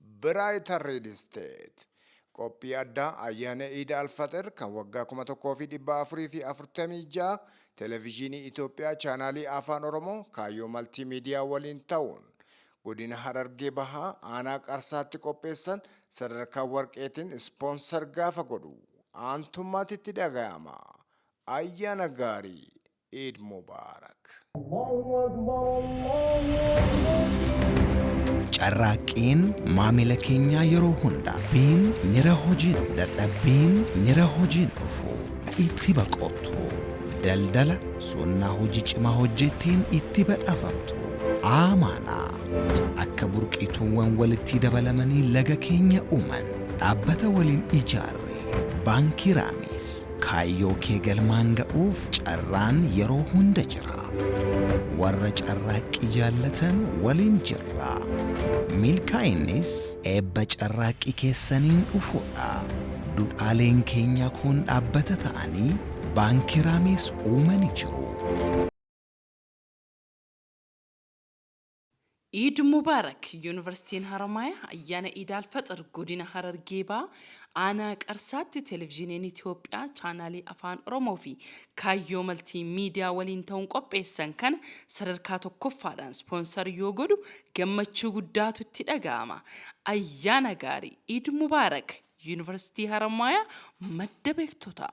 Brighter Real Estate Qophii addaa Ayyaana Iida Alfaxir kan waggaa 1446 Televizyinii Itoophiyaa Chaanaalii Afaan Oromoo Kaayyoo Maltiimiidiyaa waliin ta'uun Godina Harargee Bahaa Aanaa Qarsaatti qopheessan sadarkaa Warqeetiin Ispoonsar gaafa godhu aantummaatu itti dhagayama. Ayyaana Gaarii! Eid Mubarak. Carraaqqiin maamila keenyaa yeroo hunda. Biin mira hojiin dadhabbiin mira hojiin dhufu itti baqottu. Daldala sunnaa hojii cimaa hojjetteen itti badhaafamtu. Aamaanaa akka burqiituuwwan walittii dabalamanii laga keenya uuman. Dhaabbata waliin ijaarre Baankii Raamiis. Kaayyoo kee galmaan ga'uuf carraan yeroo hunda jira. Warra carraaqqii jaallatan waliin jirra. Milkaa'innis eebba carraaqqii keessaniin dhufudha. Dudhaaleen keenyaa kun dhaabbata ta'anii Baankii Raamiis uumani jiru. Iid Mubaarak! Yuunivarsiitiin Haramaayaa Ayyaana Iid Al Faxir Godina Harargee Bahaa Aanaa Qarsaatti Televizhiiniin Itiyoophiyaa Chaanaalii Afaan Oromoo fi Kaayyoo Maltii Miidiyaa waliin ta'uun qopheessan kana sadarkaa tokkoffaadhaan ispoonsar yoo godhu gammachuu guddaatu itti dhaga'ama. Ayyaana Gaarii! Iid Mubaarak! Yuunivarsiitii Haramaayaa Madda Beektotaa!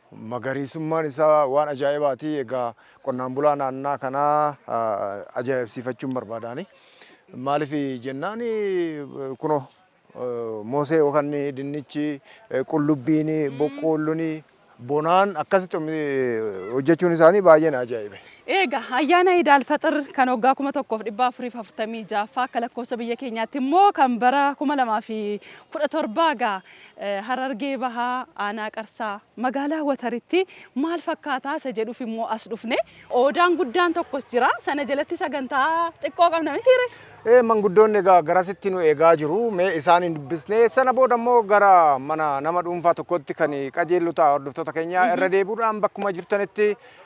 Magariisummaan isaa waan ajaa'ibaati. Egaa qonnaan bulaa naannaa kanaa ajaa'ibsiifachuun barbaada ani. Maaliif jennaan kunoo moosee yookaan dinnichi, qullubbiin, boqqoolloon bonaan akkasitti hojjechuun isaanii baay'ee na ajaa'ibe. Eega ayyaana Iid Alfaxir kan waggaa 1446ffaa akka lakkoofsa biyya keenyaatti immoo kan bara 2017 egaa Harargee Bahaa Aanaa Qarsaa Magaalaa Wataritti maal fakkaataa isa jedhuuf immoo as dhufne. Oodaan guddaan tokkos jira. Sana jalatti sagantaa xiqqoo qabna mitii ree? Ee manguddoonni egaa garasitti nu eegaa jiru. Mee isaan hin dubbisnee sana booda immoo gara mana nama dhuunfaa tokkootti kan qajeellu ta'a hordoftoota keenya irra deebi'uudhaan bakkuma jirtanitti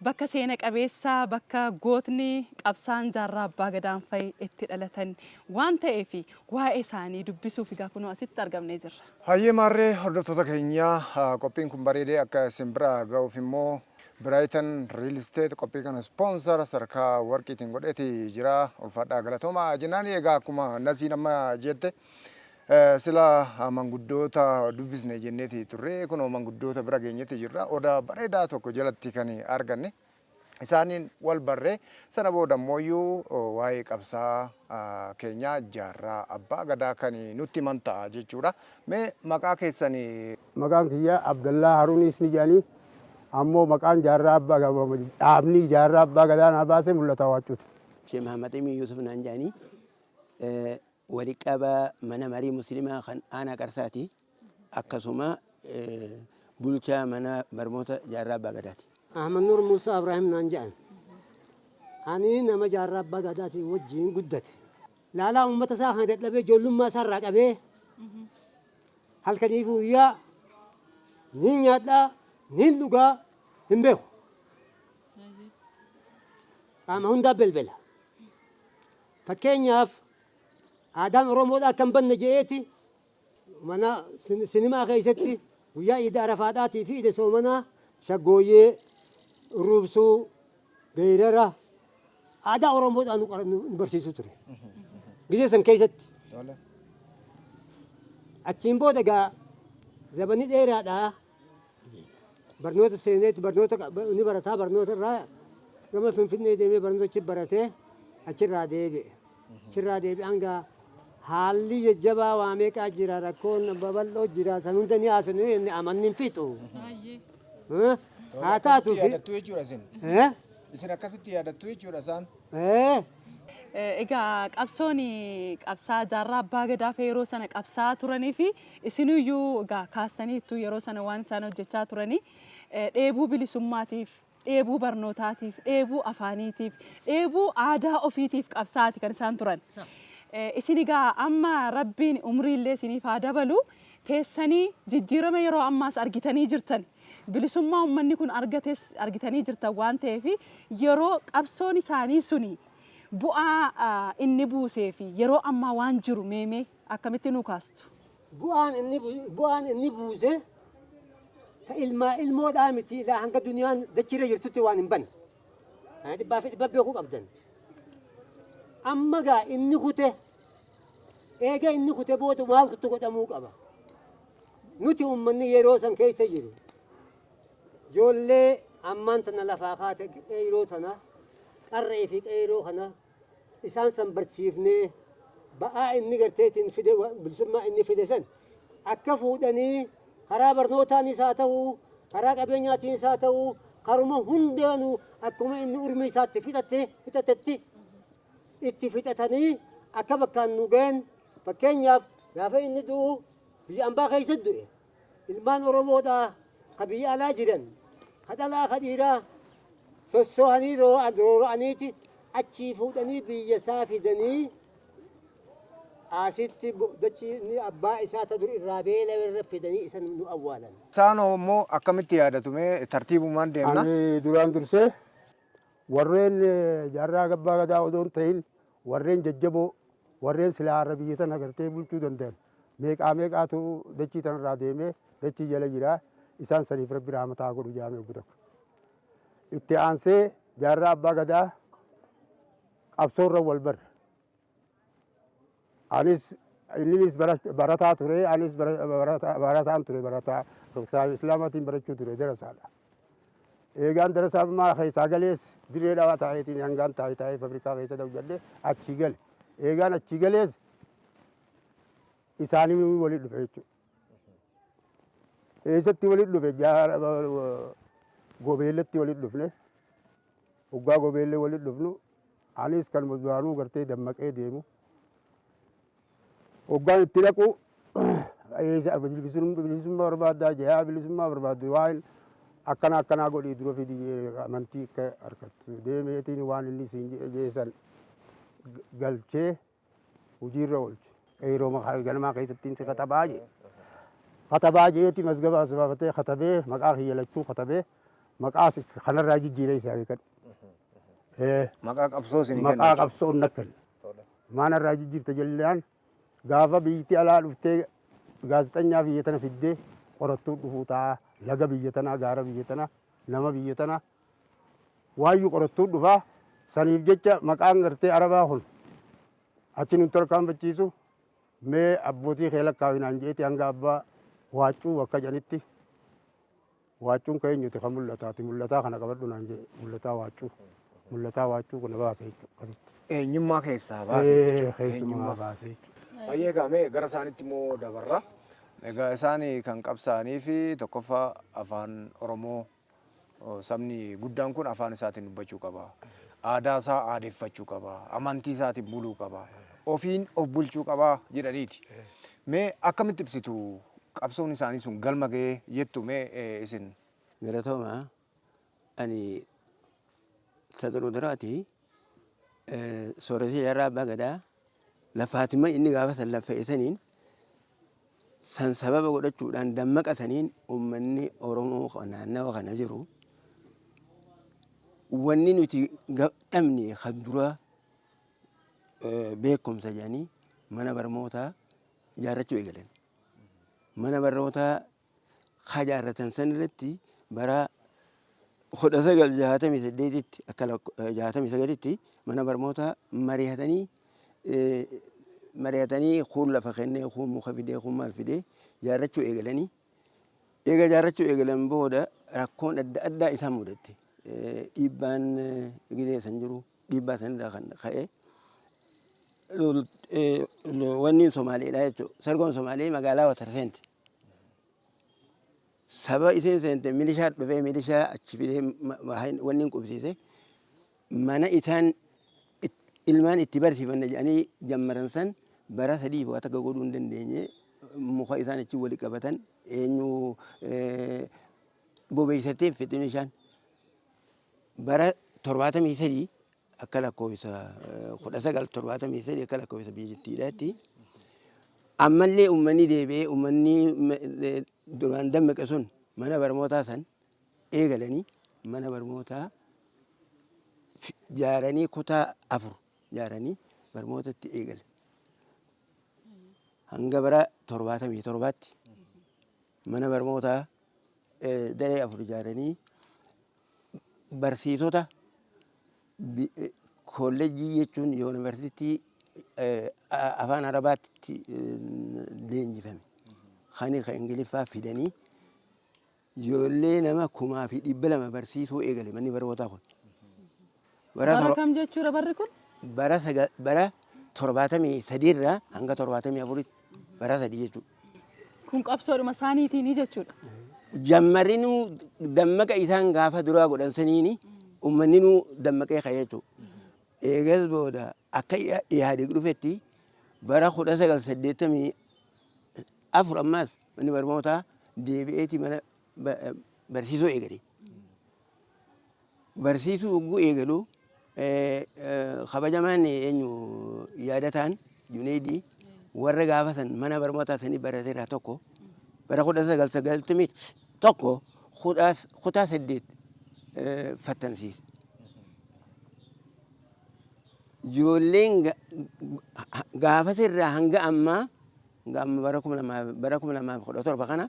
Bakka seena qabeessa, bakka gootni, qabsaa'aan jaarraa abbaa Gadaan fa'i itti dhalatan waan ta'eef waa'ee isaanii dubbisuuf egaa kunoo asitti argamnee jirra. Hayyee maarree hordoftoota keenya qophiin kun bareedee akka isin bira ga'uuf immoo Biraayitan Riil Isteet qophii kana ispoonsara sadarkaa warqiitiin godheeti jira. Ulfaadhaa galatoomaa jennaani. Egaa akkuma Nasiin amma jette Sila manguddoota dubbisne jenneeti turre kunoo manguddoota bira geenyetti jirra. Oda bareedaa tokko jalatti kan arganne isaaniin wal barre sana booda immooyyuu waa'ee qabsaa keenyaa jaarraa abbaa gadaa kan nutti himan ta'a jechuudha. Mee maqaa keessan Maqaan kiyya Abdallaa Haruuniis ni jedhanii ammoo maqaan jaarraa abbaa dhaabni jaarraa abbaa gadaa naa baase Mul'ataa Waaccuuti. Shee Mahammad Amiin Yuusuf naan jedhanii. Wali qabaa mana marii muslimaa kan aanaa Qarsaati. Akkasuma bulchaa mana barmoota Jaarraa Abbaa Gadaati. Ahmadnuur Muusaa Abraahim naan jedhan. Ani nama Jaarraa Abbaa Gadaatii wajjiin guddate. Laalaa uummata isaa kana dadhabee ijoollummaa isaa irraa qabee halkanii fi guyyaa niin nyaadhaa, niin dhugaa hin beeku. Qaama hundaa belbela. Fakkeenyaaf, aadaan Oromoodhaa akka hin badne jedheeti mana sinimaa keessatti guyyaa Iida Arafaadhaatii fi Iida Soomanaa shaggooyyee, urruubsuu, geerara aadaa Oromoodhaa nu qara- nu barsiisu ture. Gizee san keessatti. Achiin booda egaa zabanni dheeraadhaa Barnoota seeneetti barnoota ni barataa barnoota irraa gama Finfinnee deemee barnoota achi baratee achirraa deebi'e. Achirraa deebi'e hanga haalli jajjabaa waa meeqaa jira rakkoon babal'oo jira san hunda ni haasofnu inni amanni hin fixu. Eh? Haa taatu fi. Yaadattuu jechuudha isin. Eh? Isin akkasitti yaadattuu jechuudha isaan. Eh? Egaa qabsoon qabsaa jaarraa abbaa gadaa fa yeroo sana qabsaa'aa turanii fi isinuyyuu egaa kaastaniittu yeroo sana waan isaan hojjechaa turanii dheebuu bilisummaatiif dheebuu barnootaatiif dheebuu afaaniitiif dheebuu aadaa ofiitiif qabsaa'aati kan isaan turan. Isin egaa amma rabbiin umriillee isiniif haa dabalu teessanii jijjiirama yeroo ammaas argitanii jirtani. Bilisummaa ummanni kun argates argitanii jirtan waan ta'eef yeroo qabsoon isaanii suni bu'aa inni buusee fi yeroo ammaa waan jiru mee mee akkamitti nuu kaastu? Bu'aan inni bu'aan inni buuse ta ilmaa ilmoodhaa miti ilaa hanga duniyaan dachiirra jirtutti waan hin banne. Kana dhibbaa fi dhibba beekuu qabdan. Amma gaa inni kute Eega inni kute booda maaltu godhamuu qaba? Nuti uummanni yeroo san keessa jiru ijoollee ammaan tana lafaa kaate qeeyroo tana qarree fi qeeyroo kana isaan san barsiifnee ba'aa inni garteetiin fide bilisummaa inni fide san akka fuudhanii karaa barnootaanis haa ta'u karaa qabeenyaatiinis haa ta'u karuma hundaanuu akkuma inni urmii isaatti fixatte fixattetti itti fixatanii akka bakkaan nu gayan fakkeenyaaf gaafa inni du'u biyya ambaa keessa du'e ilmaan oromoodhaa ka biyya alaa jiran ka dhalaa ka dhiiraa sossoohanii roora'aniiti achii fuudhanii biyya isaa fidanii asitti dachii inni abbaa isaa ta dur irraa beela irra fidanii isa nu awwaalan. Isaan immoo akkamitti yaadatu mee tartiibumaan deemna. Ani duraan dursee Warreen jaarraa abbaa gadaa odoo hin tahin warreen jajjaboo warreen silaa har'a biyya tana gartee bulchuu dandayan meeqaa meeqaatu dachii tanarraa deemee dachii jala jira. Isaan saniif rabbi rahmata haa godhu jaame obbo Takka. Itti aansee jaarraa abbaa gadaa qabsoorra wal barre. Anis inninis bara- barataa ture anis bara- barata- barataan ture barataa kitaaba islaamaatiin barachuu ture darasaadha eegaan darasaa maa keessaa galees dirree dhawaa taa'eetiin hangaan taa'e taa'ee fabrikaa keessa hojjedhe achii gale eegaan achii galees isaanii waliin dhufe jechuudha Eessatti walitti dhufe? Jaara gobeellatti walitti dhufne. Hoggaa gobeellee walitti dhufnu anis kan duraanuu gartee dammaqee deemu. Hoggaan itti dhaqu eessa bilisummaa barbaaddaa jayaa bilisummaa barbaaddu waan akkana akkanaa godhii dura fidi amantii akka harkattu deemeetiin waan inni siin jedhe geessan galchee hojiirra oolchu. Yeroo maqaa ganamaa keessatti si katabaa jee. Katabaa jeeti mazgaba as baafatee katabee maqaa kiyya lachuu katabee maqaa sis- kanarraa jijjiiree isaa beekadhu. Eh, Maqaa qabsoo isin kenna. Maqaa qabsoon na kenna. Maanarraa jijjiirta jennaan gaafa biyyatti alaa dhuftee gaazexanyaa biyya tana fiddee qorattuu dhufuu ta'a. Laga biyya tanaa, gaara biyya tanaa, nama biyya tanaa Waayyu qorattuun dhufa. Saniif jecha maqaan gartee Arabaa kun achi nun tarkaanfachiisu. Mee abbootii kee lakkaawi naan je'eeti hanga abbaa waaccuu bakka jedhanitti waaccuun kee eenyuti kan mul'ataati mul'ataa kana qabadhu naan je'e mul'ataa waaccuu mul'ataa waaccuu kana baase jechuudha akkasitti. Eenyummaa keessaa baase Ee, jechuudha. keessumaa Eenyummaa. baase jechuudha. Baay'ee egaa mee gara isaanitti immoo dabarra. Egaa isaan kan qabsaa'anii fi tokkoffaa afaan Oromoo Sabni guddaan kun afaan isaatiin dubbachuu qaba. Aadaa isaa aadeffachuu qaba. Amantii isaatiin buluu qaba. Ofiin of bulchuu qaba jedhaniiti. Mee akkamitti ibsitu qabsoon isaanii sun galma ga'ee jettu mee eh, isin? Galatooma ani ta duruu duraati eh, sooretii jaarraa abbaa gadaa Lafaatima inni gaafa san laffa'e saniin san sababa godhachuudhaan dammaqa saniin ummanni Oromoo ka naannawa kana jiru wanni nuti ga- dhabne kan duraa eh, beekumsa jedhanii mana barmootaa ijaarrachuu eegalan. Mana barnootaa Ka ijaarratan san irratti bara 1968tti akka 69tti mana barmootaa mari'atanii mari'atanii kuun lafa kennee kuun muka fidee kuun maal fidee ijaarrachuu eegalanii eega ijaarrachuu eegalan booda rakkoon adda addaa isaan mudatte dhiibbaan gidee san jiru dhiibbaa sanirraa kan ka'e wanniin Somaaleedha jechuudha. Sargoon Somaalee magaalaa Watarseenti. Saba isiin seente milishaa dhufee milishaa achi fidee wanni hin qubsiise mana isaan ilmaan itti barsiifanna jedhanii jammaran san bara sadiif waa takka godhuu hin dandeenye muka isaan achi wali qabatan eenyu bobeessatee fixin ishaan bara torbaatamii sadii akka lakkoofsa 1973 akka lakkoofsa biyyattiidhaatti ammallee uummanni deebi'ee uummanni duraan dammaqe sun mana barnootaa san eegalanii mana barnootaa jaaranii kutaa afur jaaranii barnootatti eegale hanga bara 77tti Mana barmootaa daree afur ijaaranii barsiisota kollejjii jechuun yuunivarsiitii afaan arabaatti leenjifame kan kan ingiliffaa fidanii ijoollee nama kumaa fi dhibba lama barsiisuu eegale manni barmootaa kun. Bara Bara tor- kam jechuudha barri kun? bara saga- bara torbaatamii sadiirraa hanga torbaatamii afuritti bara sadii jechuudha. Kun qabsoodhuma isaaniitiini jechuudha. Jammarinuu dammaqa isaan gaafa duraa godhan saniini uummanninuu dammaqee ka'e jechuudha. Eegas booda akka Iya- Ihaadeeg dhufetti bara kudha sagal saddeettamii afur ammaas manni barnootaa deebi'eeti mana ba- barsiisuu eegale. barsiisuu yogguu eegalu kabajamaan eenyu yaadataan Juneeydii warra gaafa san mana barnootaa sanii barate irraa tokko bara kudha sagal sagaltamii tokko kutaa saddeet fattansiise. Ijoolleen gaafas irraa hanga ammaa hanga amma bara kuma lamaaf kudha torba kana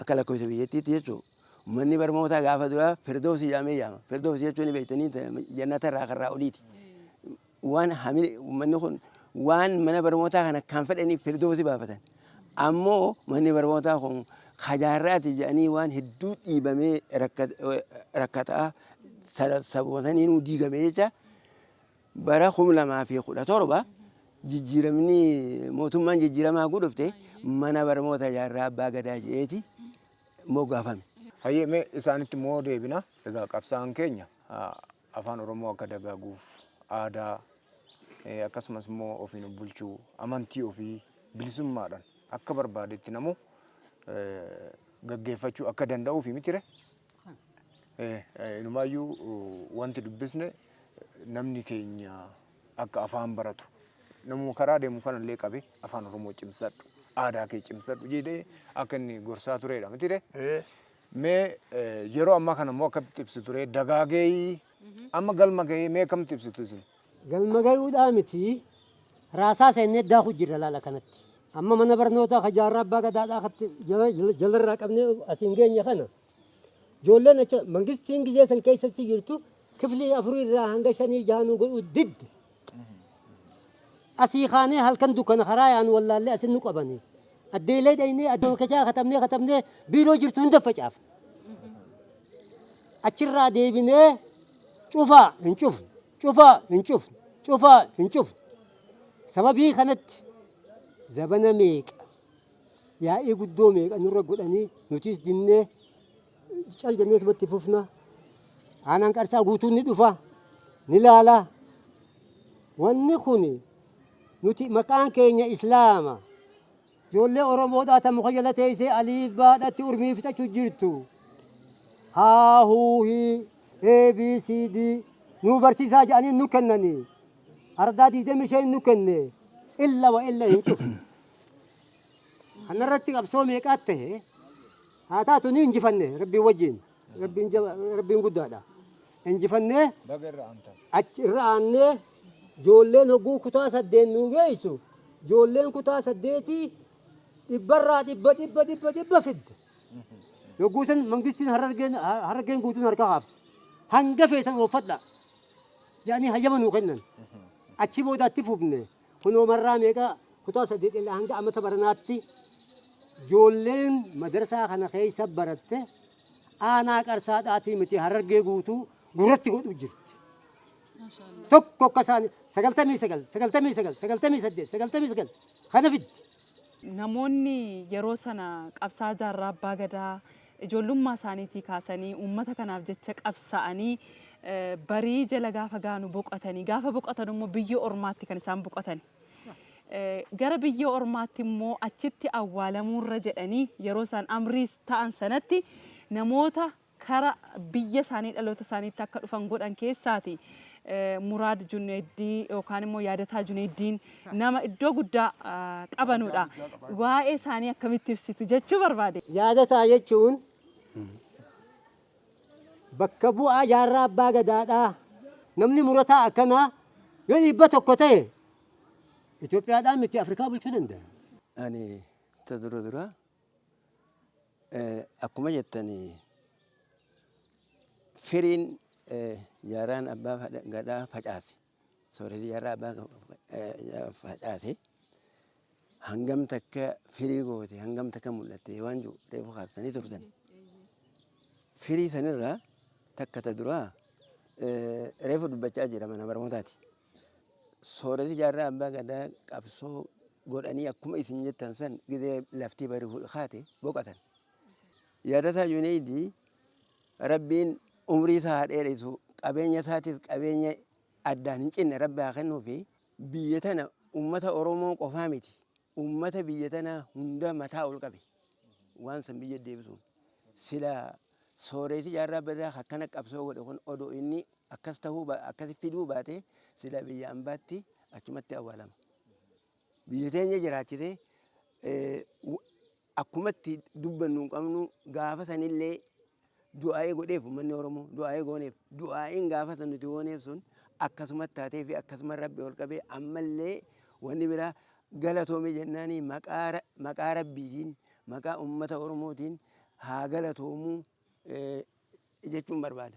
Akka lakkoofsa biyyattiitti jechuun manni barmootaa gaafa duraa Firdoosi jedhamee yaama. Firdoosi jechuun ni beektanii jannata irraa karraa oliiti. Waan hamile manni kun waan mana barmootaa kana kan fedhaniif Firdoosi baafatan. Ammoo manni barmootaa kun kajaarraati jedhanii waan hedduu dhiibamee rakkataa sabuma saniinuu diigame jecha Bara 2017 jijjiiramni mootummaan jijjiiramaa hogguu dhufte mana barmoota jaarraa abbaa gadaa je'eeti moggaafame. Hayyee mee isaanitti immoo deebina. Egaa qabsaa'aan keenya afaan Oromoo akka dagaaguuf aadaa akkasumas immoo ofiin of bulchuu amantii ofii bilisummaadhaan akka barbaadetti namuu gaggeeffachuu akka danda'uufi mitire Inumaayyuu wanti dubbisne namni keenya akka afaan baratu namuma karaa deemu kanallee qabe afaan Oromoo cimsadhu aadaa kee cimsadhu jedhee akka inni gorsaa turedha mitire. Mee yeroo ammaa kana immoo akkamitti ibsitu ree dagaagee amma galma gahee mee akkamitti ibsitu isin? Galma gayuudhaa miti raasaa seennee daakuu jirra laal akkanatti. Amma mana barnootaa ka jaarraa abbaa gadaadhaa akkatti jalarraa qabnee asiin geenye kana ijoolleen achi mangistiin gizee san keessatti jirtu kiflii afurii irraa hanga shanii jaha nu godhuu didde. Asii kaanee halkan dukkana karaa yaanu wallaallee asin nu qabanii. Addeelee dhaynee adduma kachaa katabnee katabnee biiroo jirtu hunda facaafne. Achirraa deebinee Cufaa, hin cufnu. Cufaa, hin cufnu. Cufaa, hin cufnu. Sababii kanatti zabana meeqa, yaa'ii guddoo meeqa nurra godhanii nutiis dinnee cal jenneetuma itti fufna. Aanaan Qarsaa guutuun ni dhufa, ni laala. Wanni kun nuti maqaan keenya Islaama. Joollee Oromoodhaa ta muka jala teeysee aliif baa dhatti urmii fixachu jirtu. Haa huu hii ABCD nuu barsiisaa ja'anii nu kennanii. Ardaa 25 nu kenne. Illa wa illa hin cufne. Kanarratti qabsoo meeqaat tahe. Haa taatu ni injifanne Rabbii wajjiin. Rabbiin jaba Rabbiin guddaadha. Injifannee achi irra aannee joolleen hogguu kutaa saddeet nuu geessu joolleen kutaa saddeetii dhibbarraa dhibba dhibba dhibba dhibba fidde. Yogguu san mangistiin harargeen harargeen guutuun harka haafte. Hanga feetan ooffadha. Jedhanii hayyama nuu kennan. Achi booda itti fufne. Kunoo marraa meeqa kutaa saddeet irraa hanga amata baranaatti ijoolleen madarsaa kana keessa baratte aanaa Qarsaadhaatii miti Harargee guutuu gurratti godhu jirti. Tokko akka isaanii sagaltamii sagal, sagaltamii sagal, sagaltamii saddeet, sagaltamii sagal kana fiddi. Namoonni yeroo sana qabsaa jaarraa abbaa gadaa Ijoollummaa isaaniitii kaasanii uummata kanaaf jecha qabsaa'anii barii jala gaafa gaanu boqatanii gaafa boqatan immoo biyya ormaatti kan isaan boqatan. Gara biyya ormaatti immoo achitti awwaalamuurra jedhanii yeroo isaan amriis ta'an sanatti namoota kara biyya isaanii dhaloota isaaniitti akka dhufan godhan keessaati Muraad Juneeddii yookaan immoo Yaadataa Juneeddiin nama iddoo guddaa qabanudha. Waa'ee isaanii akkamitti ibsitu jechuu barbaade. Yaadataa jechuun bakka bu'aa jaarraa abbaa gadaadha. Namni murataa akkanaa yoo dhibba tokko ta'e Itoophiyaadhaan miti Afrikaa bulchuu danda'a. Ani ta dura dura akkuma jettani firiin jaarraan abbaa gadaa facaase. Sooretii har'aa abbaan kan facaase hangam takka firii goote hangam takka mul'atte waan jiru reefu kaastanii turtan. Firii sanirraa takka ta duraa reefu dubbachaa jira mana barnootaati. Sooretii jaarraa abbaa gadaa qabsoo godhanii akkuma isin jettan san gidee laftii bari kaate boqatan. Yaadataa Yuneedii Rabbiin umrii isaa haa dheeresuu qabeenya isaatis qabeenya addaan hin cinne rabbi haa kennuufi. Biyya tana ummata Oromoo qofaa miti ummata biyya tanaa hunda mataa ol qabe waan san biyya deebisuun. Silaa sooreeysi jaarraa badaa ka akkana qabsoo godhe kun odoo inni akkas tahuu akkasi fiduu baatee silaa biyya ambaatti achumatti awwaalama. biyya teenya jiraachite akkuma itti dubbannu hin qabnu gaafa sanillee du'aa'ee godheef uummanni Oromoo du'aa'ee gooneef du'aa'iin gaafa san nuti gooneef sun akkasuma taatee fi akkasuma rabbi ol qabee ammallee wanni biraa galatoome jennaanii maqaa rabbiitiin maqaa uummata Oromootiin haa galatoomuu jechuun barbaada.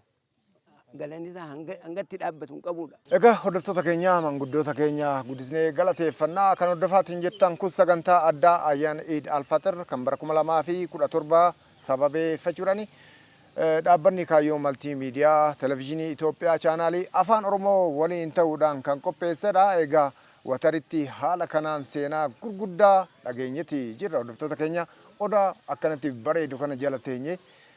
Galanni isaa hanga hanga itti dhaabbatu hin qabudha. Egaa hordoftoota keenya manguddoota keenya guddisnee galateeffannaa kan hordofaatiin jettan kun sagantaa addaa ayyaana Iid Alfaxir kan bara 2017 sababeeffachuudhaan eh, dhaabbanni kaayyoo maltii miidiyaa televizyiinii Itoophiyaa chaanaalii afaan Oromoo waliin ta'uudhaan kan qopheessedha. Egaa wataritti haala kanaan seenaa gurguddaa dhageenyeti jirra hordoftoota keenya odaa akkanatti bareedu kana jala teenye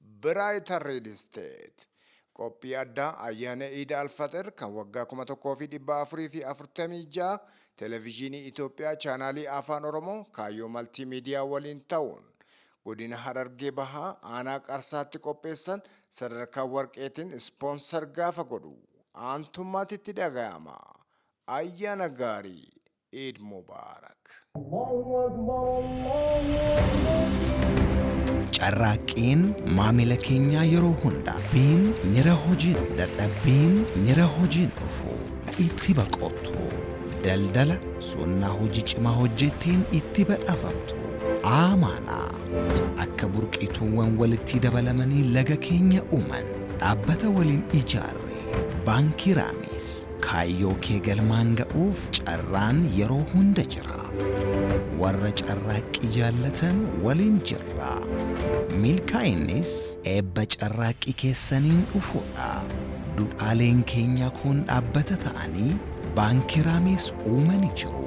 Brighter Real Estate Qophii addaa Ayyaana Iida Alfaxir kan waggaa 1446 Televizyinii Itoophiyaa Chaanaalii Afaan Oromoo Kaayyoo Maltii Miidiyaa waliin ta'uun Godina Harargee Bahaa Aanaa Qarsaatti qopheessan sadarkaa Warqeetiin Sponsor gaafa godhu aantummaatu itti dhagayama. Ayyaana Gaarii! Eid Mubarak. Carraaqqiin maamila keenyaa yeroo hunda. Biin mira hojiin dadhabbiin mira hojiin dhufu itti baqottu. Daldala sunnaa hojii cimaa hojjetteen itti badhaafamtu. Aamaana akka burqituuwwan walittii dabalamanii laga keenya uuman. Dhaabbata waliin ijaarre Baankii Raamiis. Kaayyoo kee galmaan ga'uuf carraan yeroo hunda jira. Warra carraaqqii jaallatan waliin jirra. Milkaa'innis eebba carraaqqii keessaniin dhufudha. Dudhaaleen keenyaa kun dhaabbata ta'anii Baankii Raamiis uumani jiru.